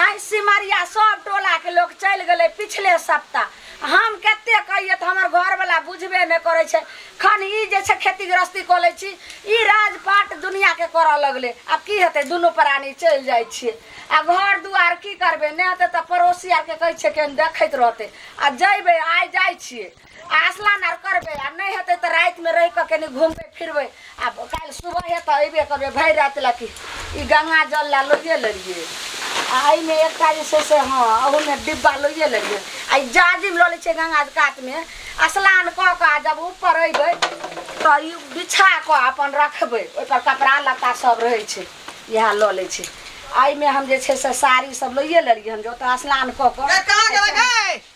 आइ सिमरिया सब टोला के लोग चल गए पिछले सप्ताह हम कते कहिए तो हमार घर वाला बुझबे नहीं करे छे खन ई जे छे खेती गृहस्थी कऽ लै छी ई राजपाट दुनिया के करऽ लगले आब की हेतै दुनू प्राणी चल जाइ छिए आ घर दुआर की करबे नहि हेतै तऽ पड़ोसी आर के कहै छिए केहन देखैत रहतै आ जैबे आइ जाइ छिए आसलान आर करबै आ नहि हेतै तऽ रातिमे रहि कऽ कनि घुमबै फिरबै आ काल्हि सुबह हेतै अयबे करबै भरि राति लए कि ई गंगा जल लए लोहिए लेलियै आ एहिमे एकटा जे छै से हँ ओहूमे डिब्बा लोहिए लेलियै आ ई जाजिम लऽ लै छियै गंगा कातमे स्नान कऽ कऽ आ जब ऊपर अयबै तऽ ई बिछा कऽ अपन रखबै ओहिपर कपड़ा लत्ता सब रहै छै इएह लऽ लै छै एहिमे हम जे छै से साड़ी सब लोहिए लेलियै हन जे ओतऽ स्नान कऽ कऽ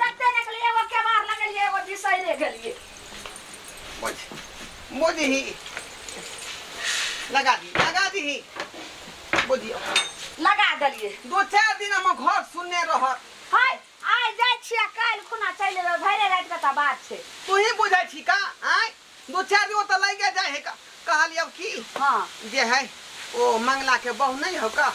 तते निकली एगो केवार लगलिए एगो बिसैरे गेलिए बोझ बोझ ही लगा दी लगा दी बोझियो लगा देलिए दो चार दिन हम घर सुनने रहत हाय आइ जाइ छियै काल्हि खुना चलि एबै भैरे राति के तऽ बात छै तू ही बुझै छी का आय दू चारि दिन ओतऽ लागिये जाइ हइ। कहलियौ कि हँ। जे हइ ओ मंगला के बहु नइ हउ का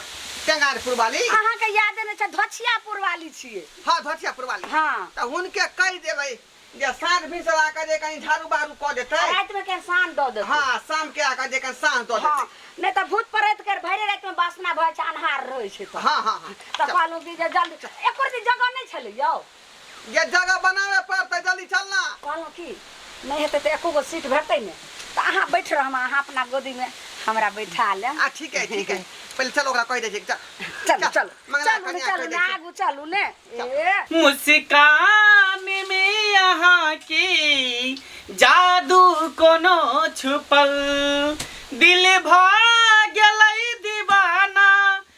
टेंगारपुर वाली। अहाँ के यादे नइ छै धोछियापुर वाली छियै। हँ धोछियापुर वाली। हँ। तऽ हुनके कहि देबै जे साँझ भिनसर आके जे कनी झाड़ू बहारू कऽ देतै। आ राति मे कनी साँझ दऽ देतै। हँ शाम के आके जे कनी साँझ दऽ देतै। हँ। नइ तऽ भूत प्रेत केर भइरे राति मे वासना भऽ जाइ छै अन्हार रहै छै तऽ। हँ हँ हँ। तऽ कहलहुँ कि जे जल्दी एको रति जगह नइ छलै यौ। गे जगह बनावे पड़तै जल्दी चल ना। कहलहुँ कि नहि हेतै तऽ एको गो सीट भेटतै ने तऽ अहाँ बैठ रहब हम अहाँ अपना गोदीमे हमरा बैठा लेब। आ ठीक अइ ठीक अइ पहिले चल ओकरा कहि दै छियै चल। चलू चल चलू मंगला चलू ने कनिया कहि चलू दै ने छियै। आगू चलू ने ए मुस्कान में अहाँ के जादू कोनो छुपल दिल भऽ गेलै दीवाना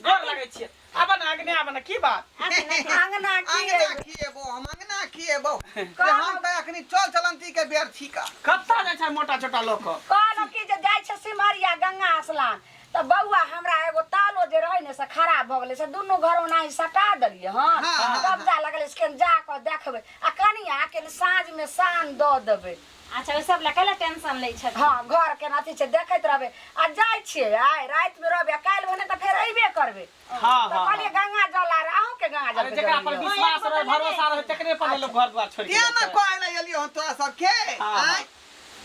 गोर लगै छियै आबऽ ने आगने आबऽ ने की बात अंगना की अंगना है? खिएबो हम अंगना खिएबो से हम तऽ अखनी चल चलंती के बेर छिका कत्ता जाइ छै मोटा छोटा लऽ कऽ कहलहुँ कि जे जाइ छै सिमरिया गंगा स्नान तऽ बौआ हमरा एगो तालो जे रहै ने से खराब भऽ गेलै से दुनू घर ओनाही सटा देलियै हँ हँ, हँ, कब्जा लगलै से केन जा कऽ देखबै आ कनिया के साँझमे सान दऽ देबै अच्छा ओहि सब लए कैला टेंशन लै छथिन हँ घर के अथी छै देखैत रहबै आ जाइ छियै आइ राति मे रहबै आ काल्हि भने तऽ फेर अयबे करबै हाँ तऽ हाँ कहलियै गंगा जल आर अहूँ के गंगा जल अरे के जकरा पर जरूरी है। विश्वास रहे भरोसा रहे तकरे पर ने लोग घर द्वार छोड़ के तें ने जाता है। कहै लए एलियै हन तोरा सबके हाँ, हाँ। आँय?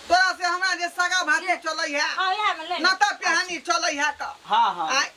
तोरा से हमरा जे सगा भाती चलै है हाँ इएह मे ले नता पेहानी चलै है तऽ हाँ हाँ आँय?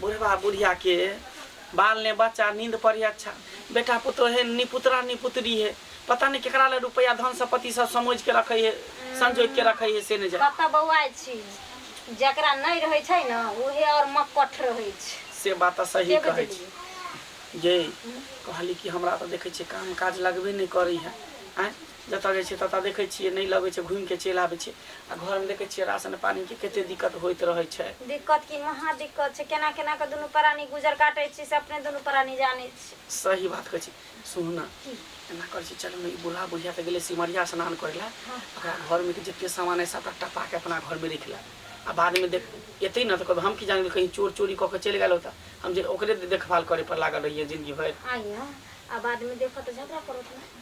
बुढ़बा बुढ़िया के बाल ने बच्चा नींद पर अच्छा बेटा पुत्र है निपुत्रा निपुत्री है पता नहीं केकरा ले रुपया धन संपत्ति सब समझ के रखे है संजोग के रखे है से ने जाए कतऽ बौआइ छी जकरा नहि रहै छै ने उहे आओर मक्कठ रहै छै से बात तऽ सही के कहै छी बुझलियै ये कहली कि हमरा तऽ देखै छियै काम काज लगबे नहि करै है आँय जतऽ जाइ छियै ततऽ देखै छियै नहि लगै छै घुमि कऽ चलि आबै छियै आ घरमे देखै छियै राशन पानिके कते दिक्कत होइत रहै छै दिक्कत की महा दिक्कत छै केना केना कऽ दुनू प्राणी गुजर काटै छी से अपने दुनू प्राणी जानै छी सही बात कहै छी सुनू ने एना करै छी चलू ने ई बुढ़ा बुढ़िया तऽ गेलै सिमरिया स्नान करै लए ओकरा घरमे के जते सामान अइ सभटा टपा कऽ अपना घरमे राखि लए आ बादमे देख एतै ने तऽ कहबै हम की जानै कहीं चोर चोरी कऽ कऽ चलि गेल होता हम जे ओकरे देखभाल करय पर लागल रहियै जिन्दगी भरि आइए आ बादमे देखत तऽ झगड़ा करत ने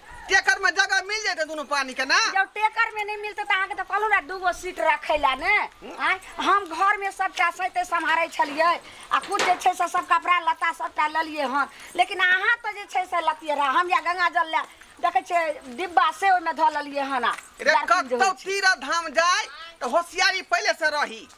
टेकर में जगह मिल जाते दोनों पानी के ना जब टेकर में नहीं मिलते तो अहाँके तो कहलहुँ ने दूगो सीट रखे ला ने आँय हम घर में सबटा सहिते सम्हारै छलियै आ खुद जे छै से सब कपड़ा लत्ता सबटा लेलियै हन लेकिन अहाँ तऽ जे छै से लतियै रह हम या गंगा जल लए देखै छियै डिब्बा से ओहिमे धऽ लेलियै हन आ रे जर्किन जे कतौ होइ छै। तीरा धाम जाय तो होशियारी पहले से रही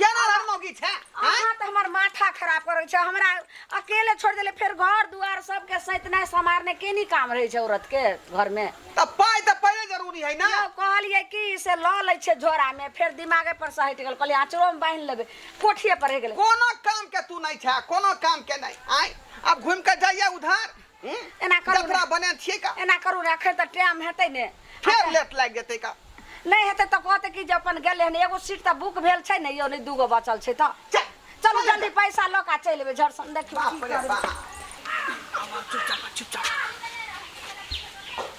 केना लड़ मौगी छै आँय? अहाँ तऽ हमर माथा खराब करै छै हमरा अकेले छोड़ देले फेर घर दुआर सबके सैतनाइ समारने केनी काम रहै छै औरत के घर में तऽ पाइ तऽ पहिले जरूरी है ना यौ कहलियै कि से लऽ लै छै झोरा में फेर दिमागे पर से हटि गेल कहलियै आँचरो में बान्हि लेबै कोठिए पर रहि गेलै कोनो काम के तू नहीं छै कोनो काम के नहीं आय अब घूम के जाइए उधार एना करू जतरा बने छिए का एना करू ने अखन तऽ टाइम हेतै ने फेर लेट लागि जेतै का नहि हेतै तऽ कहतै कि जे अपन गेलै हन एगो सीट तऽ बुक भेल छै ने यौ नहि दूगो बचल छै तऽ चल, चलू चल जल्दी पैसा लऽ कऽ चलि एबै झरसन देखियौ बाप की रे करबै। बाप आब चुपचाप चुपचाप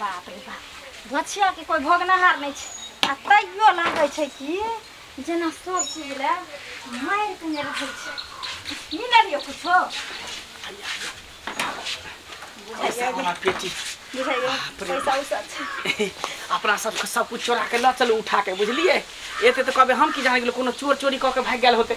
बाप रे बाप भछियाके कोइ भोगनहार नहि छै आ तैयो लागै छै कि जेना सब चीज लए मारि कने रहै छै की लेलियो कुछो पैसा वाला पेटी बुझाइयो पैसा उसा छै अपना सबके सब कुछ चोरा के लऽ चलू उठा के बुझलियै एते तऽ कहबै हम की जाने गेलहुँ कोनो चोर चोरी कऽ के भागि गेल होतै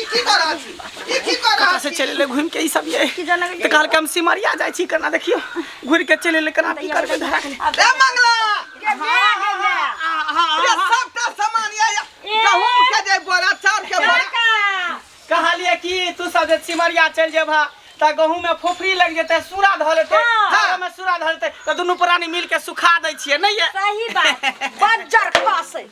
ई की कर रहल छी ई की कर रहल से छी चले ले घूम के ई सब ये की जाना तो कहल के हम सिमरिया जाय छी कना देखियो घूर के चले ले कना की करबे धरा के ए मंगला ये सबटा सामान ये ये गहूम के जे बोरा चाउर के बोरा कहलिए कि तू सब जे सिमरिया चल जेबा त गहूं में फोफरी लग जेते सूरा धऽ लेते हाँ। हाथ में सूरा धऽ लेते त दुनू प्राणी मिल के सुखा दै छियै नहीं ये सही बात बज्जर खसे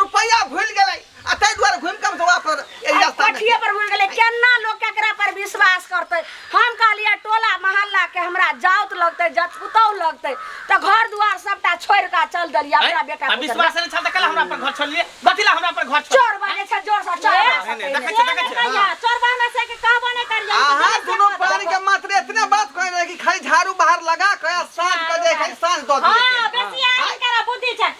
रुपैया भूल गेलै आ ताहि दुआरे घूम के हमरा पर एहि रास्ता में पठिए पर भूल गेलै केना लोग केकरा पर विश्वास करतै हम कहलियै टोला मोहल्ला के हमरा जाउत लगतै जत पुतौह लगतै तऽ घर दुआर सबटा छोड़ कऽ चल देलियै अपना बेटा आ पुतौह विश्वास नहि छल तऽ कल हमरा पर घर छोड़लिए कथी ला हमरा पर घर छोड़ चोर बने छै जोर से चोर बने छै। नहि, देखै छियै, देखै छियै, हँ। चोर बने छै कि कहबो नहि करियै अहाँ दुनू पानी के मात्र इतने बात कहै रहे कि खाली झाड़ू बाहर लगा के आ साँझ के जे है साँझ दऽ दिए हाँ बेटी आदमी करा बुद्धि छै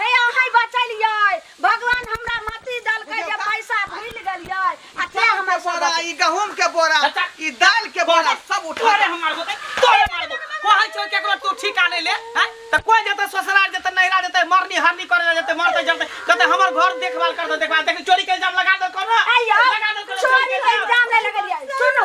हे अहै बचलियै भगवान हमरा मति दलकै जे पैसा भूल गेलियै आ ते हमर हमर बोरा ई गहूम के बोरा अच्छा। ई दाल के बोरा सब उठा तोरे हम मारबो ते तोरे मारबो कहै छौ केकरो तू ठीका नै ले हैं त कोइ जतै ससुराल जतै नैहरा जतै मरनी हरनी करे जतै मरतै जतै कहतै हमर घर देखभाल कर दे देखभाल देख चोरी के इल्जाम लगा दे कोनो आइयो लगा दे कोनो चोरी के इल्जाम नै लगलियै सुनू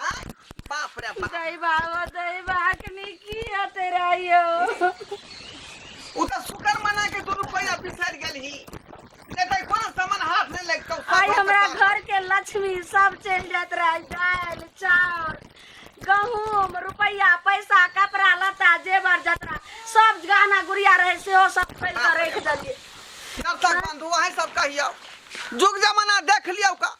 बाप रे बाप दही बाबा दही बाकनी की हते रहियो उ त शुक्र मना के दू रुपया बिसर गेलही ने त कोन सामान हाथ नहीं लगतो आई हमरा घर के लक्ष्मी सब चल जात रही दाल चाउर गहूम रुपया पैसा कपड़ा लत्ता जेवर जतरा सब गहना गुड़िया रहे सेहो सब खोल के रख देलिए नर्तक बंधु अहे सब कहियो जुग जमाना देख लियो का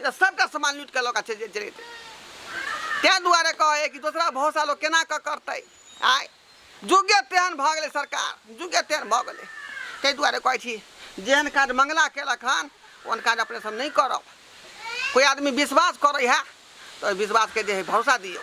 ई तऽ सभटा सामान लूटि कऽ लऽ कऽ चलि जाइ चलि जेतै ताहि दुआरे कहै हइ कि दोसरा भरोसा लोक केना कऽ करतै आँय जुगे तेहन भऽ गेलै सरकार जुगे तेहन भऽ गेलै ताहि दुआरे कहै छी जेहन काज मंगला केलक हन ओहन काज अपने सब नहि करब कोइ आदमी विश्वास करै हइ तऽ ओहि विश्वासके जे हइ भरोसा दियौ